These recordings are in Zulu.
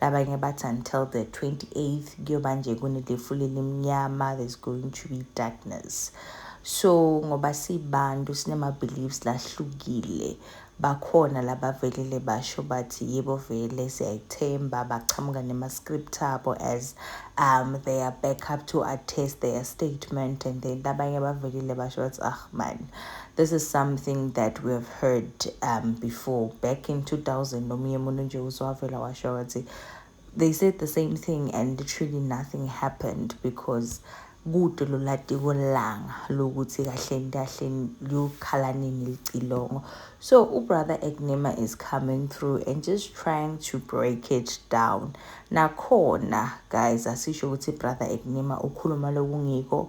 Abanye bathi until the 28th kuyoba nje kunelifula elimnyama there's going to be darkness so ngoba sibantu sinema-beliefs lahlukile bakhona labavelele basho bathi yebo vele siyayithemba baqhamuka nema-script abo as um they are back up to attest their statement and then abanye bavelile basho bathi ah man This is something that we have heard um, before. Back in 2000, nomunye umuntu nje uzwavela washo wathi they said the same thing and literally nothing happened because kude lolatiko langa lokuthi kahleni kahleni liyokhala nini licilongo so ubrother egnema is coming through and just trying to break it down nakhona guys asisho ukuthi brother egnema ukhuluma lokungikho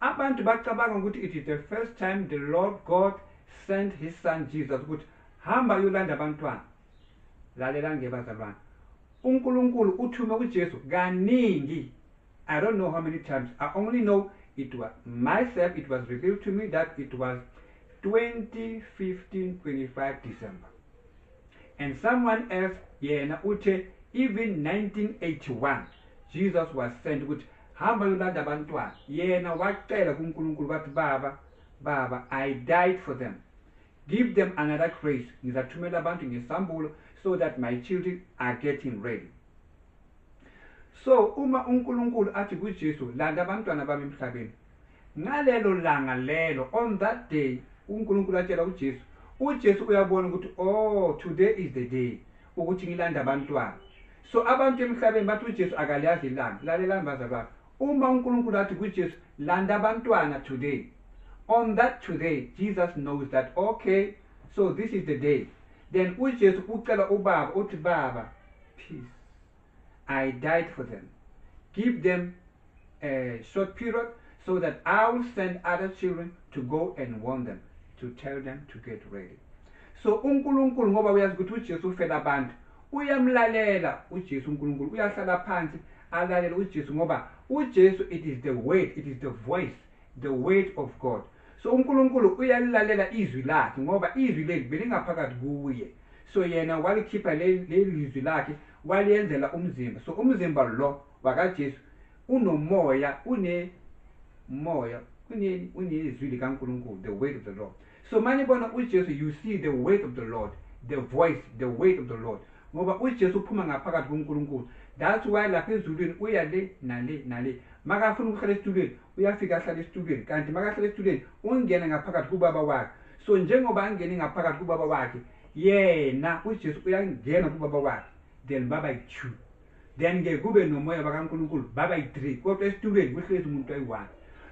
Abantu bacabanga ukuthi it is the first time the Lord God sent his son Jesus ukuthi hamba uyolanda abantwana. Lalela nje bazalwane. UNkulunkulu uthume uJesu kaningi. I don't know how many times. I only know it was myself it was revealed to me that it was 2015 25 December. And someone else yena uthe even 1981 Jesus was sent ukuthi hamba yolanda abantwana yena wacela kuNkulunkulu wathi baba baba I died for them give them another grace ngizathumela abantu ngesambulo so that my children are getting ready so uma uNkulunkulu athi kuJesu landa abantwana bami emhlabeni Ngalelo langa lelo, on that day, uNkulunkulu atshela uJesu, uJesu uyabona ukuthi oh today is the day ukuthi ngilanda abantwana. So abantu emhlabeni bathi uJesu akaliyazi ilanga. Lalelani bazalwane. Uma uNkulunkulu athi kuJesu landa abantwana today. On that today, Jesus knows that okay, so this is the day. Then uJesu ucela uBaba uthi Baba, peace. I died for them. Give them a short period so that I will send other children to go and warn them, to tell them to get ready. So uNkulunkulu ngoba uyazi ukuthi uJesu ufela abantu, uyamlalela uJesu uNkulunkulu, uyahlala phansi alalele uJesu ngoba uJesu it is the word, it is the voice, the word of God. So uNkulunkulu uyalilalela izwi lakhe ngoba izwi leli belingaphakathi kuye. So yena walikhipha leli lizwi lakhe waliyenzela umzimba so umzimba lo wakajesu unomoya une moya kuneni unezwi likankulunkulu the word of the lord so manibona ujesu you see the word of the lord the voice the word of the lord ngoba ujesu uphuma ngaphakathi kunkulunkulu that's why lapha ezulwini uya le nale nale makafuna ukuhlala esitulweni uyafika ahlala esitulweni kanti makahlala esitulweni ungena ngaphakathi kubaba wakhe so njengoba angene ngaphakathi kubaba wakhe Yena uJesu uyangena kubaba wakhe then baba yi-two then ke kube nomoya bakaNkulunkulu baba yi-three kodwa esitulweni kuhlezi umuntu ayi-one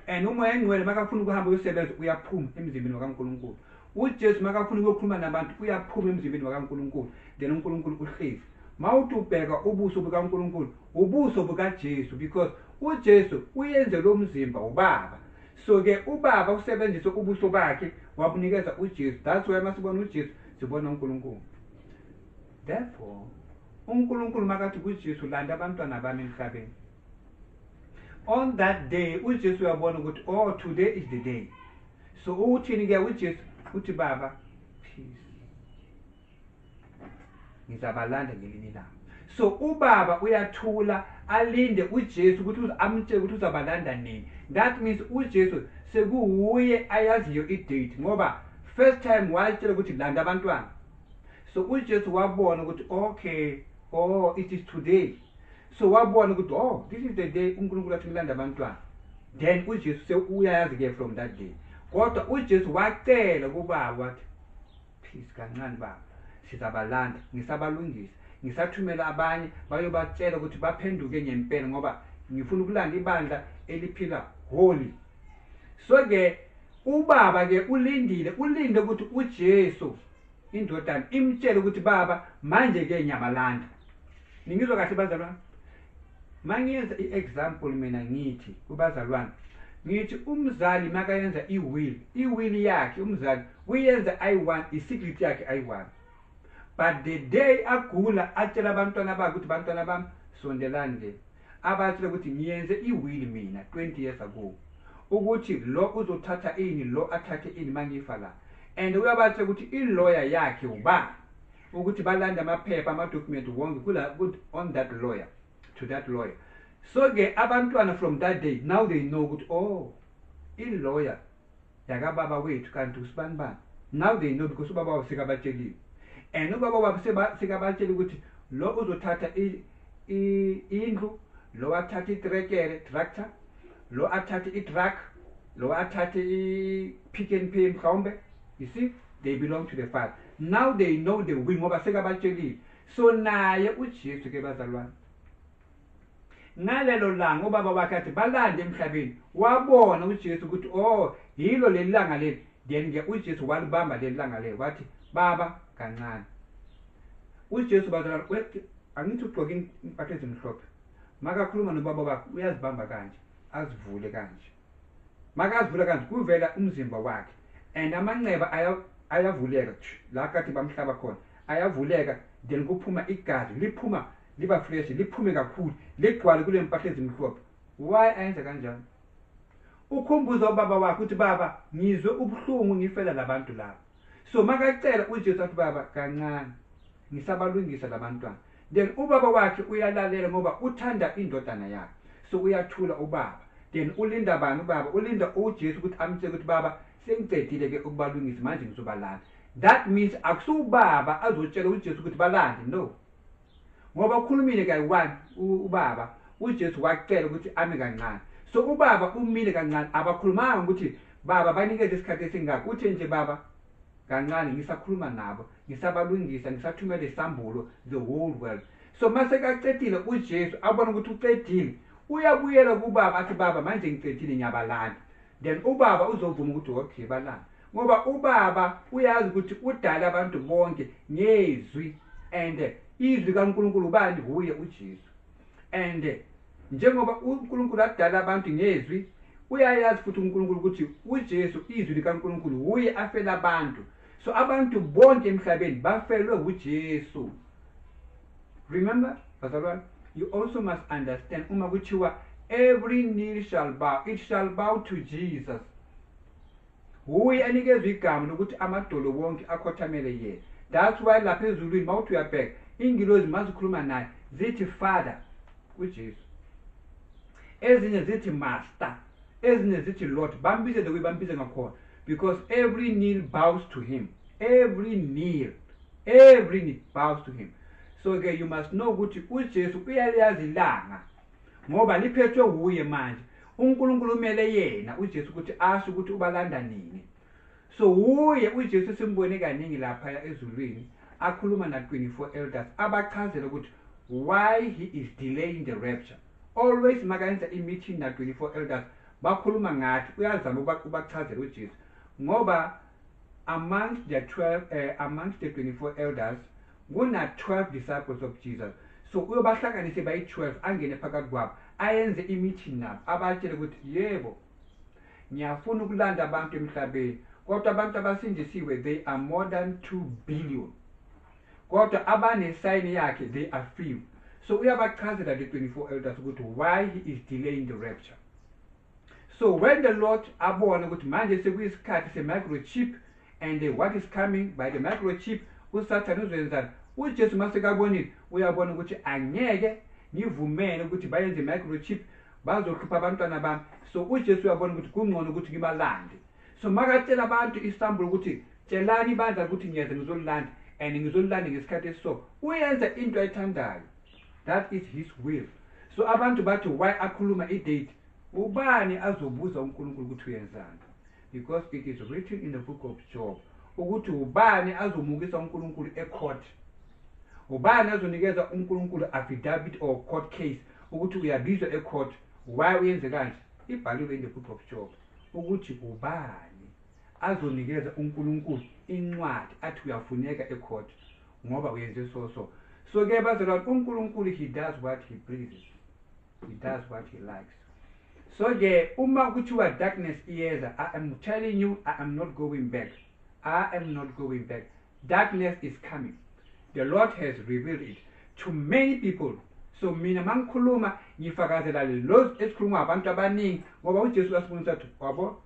and umoya engcwele makafuna ukuhamba uyosebenza uyaphuma emzimbeni wakaNkulunkulu uJesu makafuna ukuyokhuluma nabantu uyaphuma emzimbeni wakaNkulunkulu then uNkulunkulu uhlezi mawuthi ubheka ubuso bukaNkulunkulu ubuso bukaJesu because uJesu uyenze lo mzimba ubaba So ke ubaba usebenzise ubuso bakhe wabunikeza uJesu. That's why masibona uJesu sibona uNkulunkulu. Therefore uNkulunkulu makathi kuJesu landa abantwana bami emhlabeni. On that day uJesu uyabona ukuthi oh today is the day. So uthini ke uJesu uthi baba ngizabalanda ngelinye ilanga so ubaba uyathula alinde uJesu ukuthi amtshele ukuthi uzabalanda nini that means uJesu sekuwuye ayaziyo idate ngoba first time wayitshela ukuthi landa abantwana so uJesu wabona ukuthi okay oh it is today so wabona ukuthi oh this is the day uNkulunkulu athi ngilanda abantwana then uJesu sewuyayazi ke from that day kodwa uJesu wacela kubaba wathi Please kancane baba. sizabalanda ngisabalungisa ngisathumela abanye bayobatshela ukuthi baphenduke ngempela ngoba ngifuna ukulanda ibandla eliphila holy so ke ubaba ke ulindile ulinde ukuthi uJesu indodana imtshele ukuthi baba manje ke ngiyabalanda ningizwa kahle bazalwane mangiyenza i-example mina ngithi kubazalwane ngithi umzali makayenza i-will i-will yakhe umzali uyenza ayi-one i-secret yakhe ayi-one but the day agula atshela abantwana bakhe ukuthi bantwana bami sondelani le abatshele ukuthi ngiyenze i-will mina 20 years ago ukuthi lo uzothatha ini lo athathe ini mangifa la and uyabatshela ukuthi iloya yakhe ubani ukuthi balande amaphepha amadocument wonke kula good on that lawyer to that lawyer so ke abantwana from that day now they know ukuthi oh ilawyer yakababa wethu kanti usibani bani now they know because ubaba wabo sekabatsheliwe and ubaba wabo sekabatshela ukuthi lo uzothatha indlu lo athathe itrekere tractor lo athathe itruck lo athathe i-pick and pay mhlawumbe you see they belong to the father Now they know the will ngoba sekabatshelile. So naye uJesu ke bazalwane. Ngalelo langa ubaba wakhe athi balande emhlabeni wabona uJesu ukuthi oh yilo leli langa leli then ke uJesu walibamba leli langa leli wathi baba kancane. UJesu bazalwane wethi angithi ugqoke impahla ezimhlophe makakhuluma nobaba bakhe uyazibamba kanje azivule kanje. makazivula kanti kuvela umzimba wakhe and amanxeba ayavuleka la kade bamhlaba khona ayavuleka then kuphuma igazi liphuma liba fresh liphume kakhulu ligcwale kule mpahla ezimhlophe why ayenza kanjani ukhumbuza ubaba wakhe ukuthi baba ngizwe ubuhlungu ngifela labantu laba so makacela ujesu athi baba kancane ngisabalungisa labantwana then ubaba wakhe uyalalela ngoba uthanda indodana yakhe so uyathula ubaba then ulinda bani ubaba ulinda ujesu ukuthi amtshele ukuthi baba sengicedile ke ukubalungisa manje ngizobalanda that means akusiwubaba azotshela ujesu ukuthi balande no ngoba ukhulumile kayi-one ubaba ujesu wacela ukuthi ame kancane so ubaba umile kancane abakhulumanga ukuthi baba banikeze isikhathi esingako uthe nje baba kancane ngisakhuluma nabo ngisabalungisa ngisathumela isambulo the whole world so uma sekacedile ujesu abone ukuthi ucedile uyabuyela kubaba athi baba manje ngicedile ngiyabalanda then ubaba uzovuma ukuthi okay balanda ngoba ubaba uyazi ukuthi udala abantu bonke ngezwi and izwi kaNkulunkulu ubani huye uJesu and njengoba uNkulunkulu adala abantu ngezwi uyayazi futhi uNkulunkulu ukuthi uJesu izwi likaNkulunkulu huye afela abantu so abantu bonke emhlabeni bafelwe uJesu remember bazalwane you also must understand uma kuthiwa every knee shall bow it shall bow to Jesus Wuye anikezwa igama lokuthi amadolo wonke akhothamele yena. That's why lapha ezulwini mawuthi uyabheka ingilozi mazikhuluma naye zithi father kuJesu. Ezinye zithi master, ezinye zithi lord bambizele kuyibambize ngakhona because every knee bows to him. Every knee, every knee bows to him. So ke you must know ukuthi uJesu uyayazi ilanga ngoba liphethwe wuye manje. uNkulunkulu umele yena uJesu ukuthi asho ukuthi ubalanda nini so wuye uJesu simbone kaningi lapha ezulwini akhuluma na 24 elders abachazela ukuthi why he is delaying the rapture always makenza imeeting na 24 elders bakhuluma ngathi uyazama ubachazela uJesu ngoba amongst the 12 uh, eh, amongst the 24 elders Kuna-12 disciples of Jesus. So uyobahlanganise bayi-12 angene phakathi kwabo ayenze i-meeting nabo abatshele ukuthi yebo ngiyafuna ukulanda abantu emhlabeni kodwa abantu abasindisiwe they are more than 2 billion kodwa abanesayini yakhe they are few so uyabachazela the 24 elders ukuthi why he is delaying the rapture so when the lord abone ukuthi manje sekuyisikhathi se-microchip and what is coming by the microchip usathane uzoyenzani ujesu uma sekabonile uyabona ukuthi angeke ngivumele ukuthi bayenze i-microchip bazohlupha abantwana bami so ujesu uyabona ukuthi kungcono ukuthi ngibalande so makatshela abantu isambulo ukuthi tshelani ibandla ukuthi ngiyeza ngizolilanda and ngizolilanda ngesikhathi esiso uyenza into ayithandayo That is his will. So abantu bathi why akhuluma i-date ubani azobuza unkulunkulu ukuthi uyenzani because it is written in the book of job ukuthi ubani azomukisa unkulunkulu ecourt ubani azonikeza unkulunkulu affidavit or court case ukuthi uyabizwa ecourt why uyenze kanje ibhaliwe in the book of job ukuthi ubani azonikeza unkulunkulu incwadi athi uyafuneka ecourt ngoba uyenze so so so ke bazalwane unkulunkulu he does what he pleases he does what he likes so ke uma kuthiwa darkness iyeza i am telling you i am not going back i am not going back darkness is coming the lord has revealed it to many people so mina mangikhuluma ngifakazela lezi esikhuluma abantu abaningi ngoba uJesu wasifundisa ukuthi wabo